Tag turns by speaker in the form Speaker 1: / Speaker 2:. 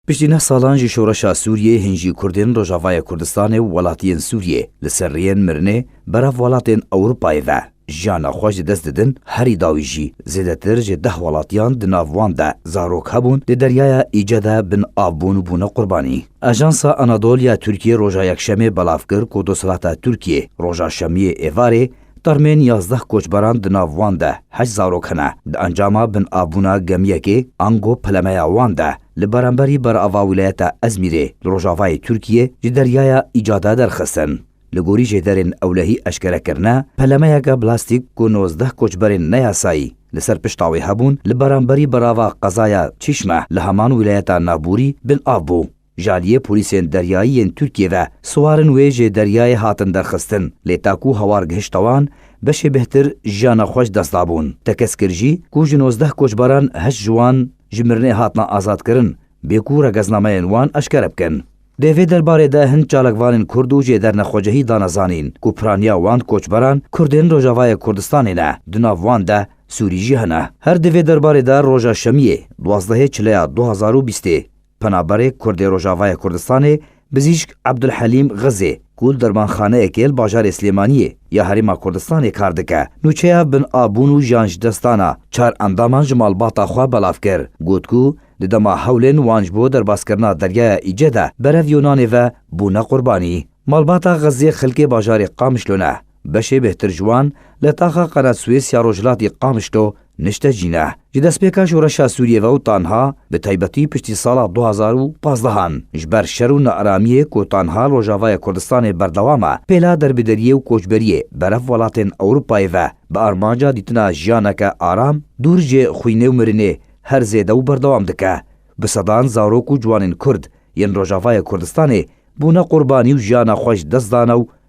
Speaker 1: Piştî neh salan ji şoreşa Sûriyê hin jî Kurdên Rojavaya Kurdistanê û welatiyên Sûriyê li ser rêyên mirinê berav welatên Ewropayê ve jiyana xwe ji dest didin, herî dawî jî zêdetir ji deh welatiyan di nav wan de zarok hebûn di deryaya Îce de bin av bûn û bûne qurbanî. Ajansa Anadol ya Tirkiyê roja Yekşemê belav kir ku desthilat a Tirkiyê roja Şemiyê êvarê Termên yazdeh koçberan di nav wan de heşt zarok hene. Di encama binavbûna gemiyekê ango pelemeya wan de li beremberî berava wîlayeta Ezmîrê li rojavayê Tirkiyê ji deryaya Îcade derxistin. Li gorî jêderên ewlehî eşkere kirine, pelemeyeke blastîk ku nozdeh koçberên neyasayî li ser pişta wê hebûn li beremberî berava qezaya Çîşme li heman wîlayeta Navbûrî bin av bû. Ji aliyê polîsên deryayî yên Tirkiyê ve siwarin wê jê deryayê hatin derxistin lê ta ku hawar gihişta wan beşê bihtir jiyana xwe ji dest dabûn. Tekez kir jî ku ji nozdeh koçberan heşt ji wan ji mirinê hatine azadkirin bê ku regeznameyên wan eşkere bikin. Dê vê derbarê de hin çalakvanên kurd û jê dernexwecihî dane zanîn ku piraniya wan koçberan kurdên Rojavayê Kurdistanê ne, di nav wan de Sûrî jî hene. Her di vê derbarê de roja şemiyê duwazdehê çileya du hezar û bîstê Penaberê Kurdê Rojavayê Kurdistanê Bizîşk Ebdulhelîm Xizê ku li dermanxaneyekê li bajarê Silêmaniyê ya Herêma Kurdistanê kar dike, nûçeya bin a bûn û jiyan ji dest dana çar endaman ji malbata xwe belav kir. Got ku di dema hewlên wan ji bo derbaskirina Deryaya Îce de berev Yûnanê ve bûne qurbanî. Malbata Xizê xilkê bajarê Qamişlo ne. Beşê bêhtir ji wan li taxa Qeredswês ya rojhilatî Qamişlo nişte cîne. Ji destpêka şoreşa Sûriyê ve û tanha bi taybetî piştî sala du hezar û pazdeh an ji ber şer û nearamiyê ku tanha li Rojavayê Kurdistanê berdewam e, pêla derbideriyê û koçberiyê berev welatên Ewropayê ve bi armanca dîtina jiyaneke aram dûr ji xwînê û mirinê her zêde û berdewam dike. Bi sedan zarok û ciwanên Kurd yên Rojavayê Kurdistanê bûne qurbanî û jiyana xwe ji dest dane û